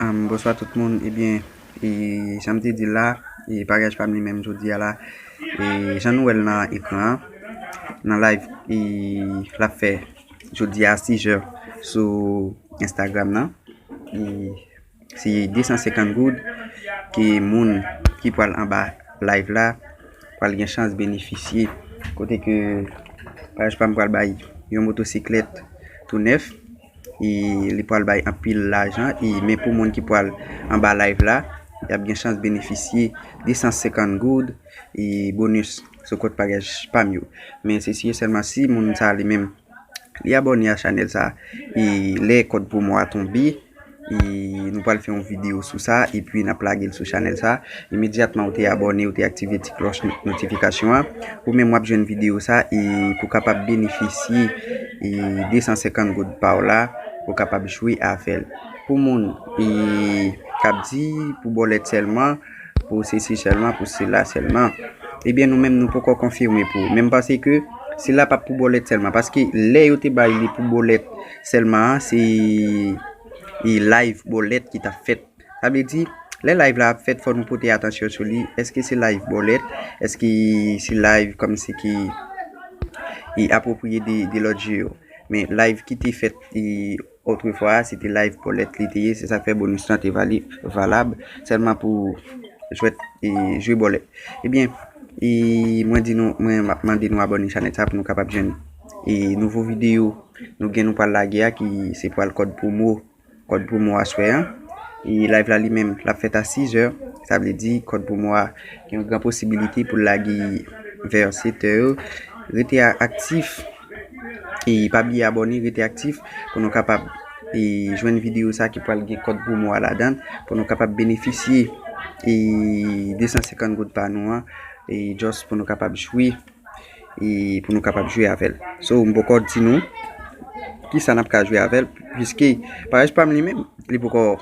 Bonswa tout moun ebyen janm te dil la paryaj pam li menm jodia la jan nou wèl nan ekran an nan live lap fè jodia a 6 jè sou instagram nan se 250 goud ke moun ki pwal anba live la pwal gen chans benefisye kote ke paryaj pam pwal bay yon motosiklèt tou nèf. e li pral bay anpil lajan e men pou moun ki pral anba live la yap gen chans benefisye 250 goud e bonus sou kont paryaj pam yo men se si e sèlman si moun sa li menm li abòne a chanèl sa e lè kòd promo a tonbe. E nou pral fè yon video sou sa epi nap lagel sou chanèl sa imedyatman ou te abòne ou te aktive ti klòch notifikasyon an ou menm wap jwenn video sa e pou kapab benefisye 250 goud paw la ou kapab jwe avèl pou moun kap di pou bòlèt sèlman. Pou sesi sèlman, pou sela sèlman. Ebyen nou menm nou poko konfime pou ou. Men m panse ke sila pa pou bòlèt sèlman. Paske lè yo te bay li pou bòlèt sèlman an, se live bòlèt ki tap fèt. Sa vle di, lè live la ap fèt fò nou pote atansyon sou li. Eske se live bòlèt? Eske se live kòm si ki apwopriye de lòt je yo? Men live ki te fèt. Otrefwa a, se te live Paulette li te ye, se sa k fè bonus lan te valab sèlman pou jwèt jwe bòlèt. Ebyen, mwen di nou, mwen m ap mande nou abòne chanèl sa pou nou kapab jwenn nouvo videyo nou gen nou pral lage a ki se pral kòd pwomo, kòd pwomo aswè an. E live la li menm l ap fèt a 6 zè, sa vle di kòd pwomo a gen yon gran posibilite pou l lage vè 7 è. Rete aktif! E pa bliye abòne rete aktif pou nou kapab e jwenn videyo sa ki pral gen kòd pwomo a ladan pou nou kapab benefisye e 250 goud pa nou an e just pou nou kapab jwe e pou nou kapab jwe avèl so m poko di nou kisa nap ka jwe avèl piske paj pam li menm li poko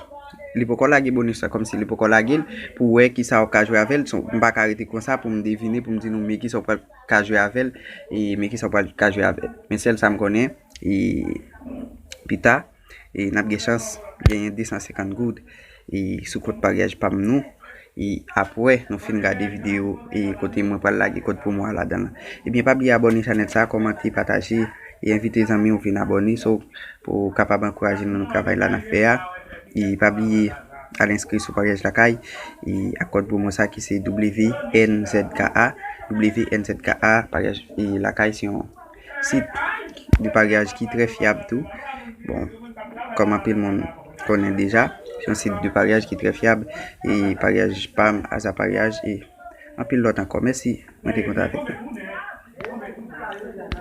li poko lage bonus la kòmsi li poko lagel pou wè kisa ou ka jwe avèl m paka rete konsa poum devine poum di nou men kisa ou pral ka jwe avèl e men kisa ou pral ka jwe avèl men sèl sam konnen e pita e nap gen chans genyen 250 goud e sou kont maryaj pam nou e apwè nou fin gade video e kote mwen pral lage kod promo a ladan la ebyen pa bliye abòne chanèl sa kòmante pataje e envite zanmiw vin abòne pou kapab ankouraje nou nan travay la nap fè a e pa bliye. Al enskri sou Paryaj Lakay ak kòd pwomo sa ki se WNZKA, WNZKA Paryaj Lakay se yon sit de paryaj ki trè fyab tou. Bon, kòm anpil moun konnen deja, se yon sit de paryaj ki trè fyab e paryaj pam, Aza Paryaj e anpil lòt ankò. Mèsi, mwen te kontan avèk nou.